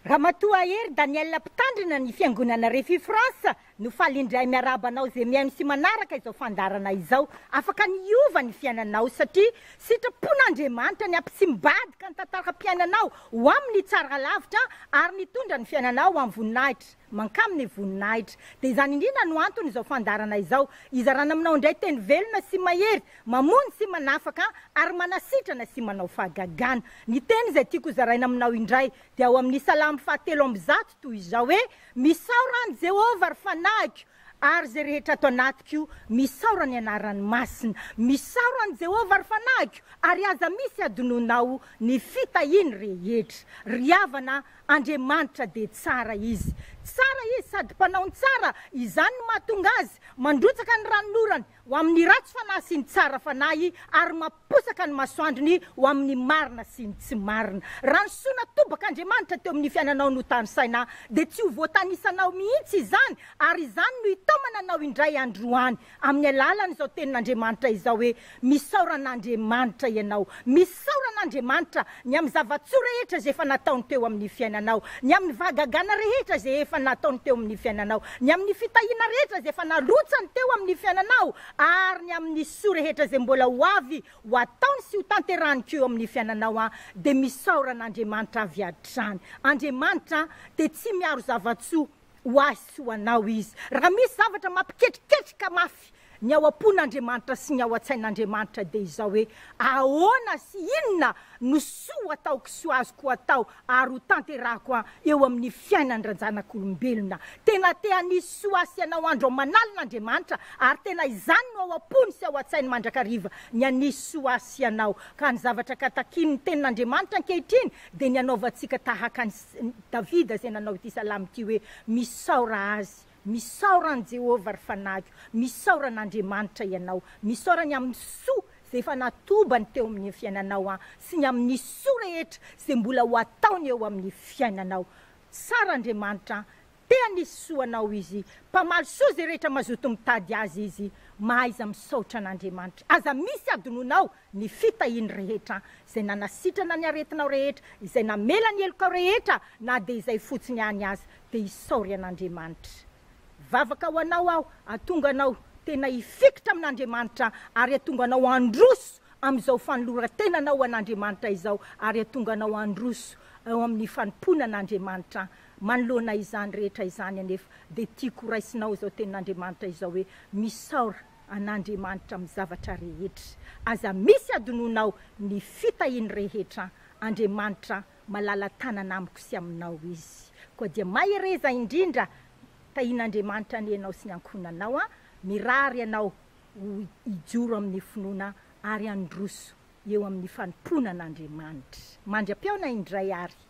Ramatoa Hery Danielle Mpitandrina ny Fiangonana Refi France no faly indray miarahaba anao izay mihaino sy manaraka izao fandaharana izao. Afaka ny hiova ny fiainanao satria sitrapon'Andriamanitra ny hampitsimbadika ny tantaram-piainanao ho amin'ny tsara lavitra ary nitondra ny fiainanao ho amin'ny voninahitra. Mankamy ny voninahitra. Dia izany indrindra no antony izao fandaharana izao hizarana aminao indray teny velona sy mahery mamono sy manafaka ary manasitrana sy manao fahagagana. Ny teny izay tiako hozaraina aminao indray dia ao amin'ny Salamo fahatelo amby zato toy izao hoe, Misaora an'i Jehovah ry fanahiko, ary izay rehetra ato anatiko, misaora ny anarany masina. Misaora an'i Jehovah ry fanahiko, ary aza misy hadinoinao ny fitahiany rehetra. Ry havana, Andriamanitra dia tsara Izy. Tsara Izy sady mpanao ny tsara, izany no mahatonga Azy mandrotsaka ny ranonorany ho amin'ny ratsy fanahy sy ny tsara fanahy ary mamposaka ny masoandrony ho amin'ny marina sy ny tsy marina. Raha ny soa natobak'Andriamanitra teo amin'ny fiainanao no tanisaina, dia tsy ho voatanisanao mihitsy izany ary izany no hitaomana anao indray andro any. Amin'ny alalan'izao tenin'Andriamanitra izao hoe, Misaora an'Andriamanitra ianao. Misaora an'Andriamanitra ny amin'ny zava-tsoa rehetra izay efa nataony teo amin'ny fiainanao, ny amin'ny vahagagana rehetra izay efa nataony teo amin'ny fiainanao, ny amin'ny fitahiana rehetra izay efa narotsany teo amin'ny fiainanao, ary ny amin'ny soa rehetra izay mbola ho avy ho ataony sy ho tanterahany koa eo amin'ny fiainanao an, dia misaora an'Andriamanitra avy hatrany. Andriamanitra dia tsy miaro zava-tsoa. ho ahy sy ho anao izy. Raha misy zavatra mampiketriketrika mafy ny ao am-pon'Andriamanitra sy ny ao an-tsain'Andriamanitra dia izao hoe, Ahoana sy inona no soa ho ataoko sy ho azoko atao ary ho tanterahako eo amin'ny fiainan-dRanjanak'olombelona? Tena te hanisy soa sy hanao andro aman'alina Andriamanitra ary tena izany no ao am-pony sy ao an-tsainy mandrakariva, ny hanisy soa ahy sy anao. Ka ny zavatra ka takian'ny Tenin'Andriamanitra ankehitriny dia ny hanaovantsika tahaka ny. Davida izay nanao ity salamo ity hoe, Misaora Azy, misaora an'i Jehovah ry fanahiko, misaora an'Andriamanitra ianao, misaora ny amin'ny soa izay efa natobany teo amin'ny fiainanao an, sy ny amin'ny soa rehetra izay mbola ho ataony eo amin'ny fiainanao. Tsara Andriamanitra an, Te hanisy soa anao izy, mpamaly soa ze rehetra mazoto mitady azy izy, mahaiza misaotra an'Andriamanitra. Aza misy adinonao ny fitahiany rehetra, izay nanasitrana ny aretinao rehetra, izay namela ny helokao rehetra na dia izay fotsiny any aza, dia isaory an'Andriamanitra. Vavaka ho anao aho atonga anao tena hifikitra amin'Andriamanitra ary atonga anao handroso amin'izao fanoloran-tenanao ho an'Andriamanitra izao ary atonga anao handroso eo amin'ny fanompoana an'Andriamanitra Manoloana izany rehetra izany anefa dia tiako ho raisinao izao tenin'Andriamanitra izao hoe, Misaora an'Andriamanitra amin'ny zavatra rehetra. Aza misy adinoinao ny fitahiany rehetra an! Andriamanitra malala-tanana amiko sy aminao Izy. Koa dia mahereza indrindra! Tahian'Andriamanitra anie ianao sy ny ankohonanao an! Mirary anao ho hijoro amin'ny finoana ary handroso eo amin'ny fanompoana an'Andriamanitra. Mandri-apeona indray ary!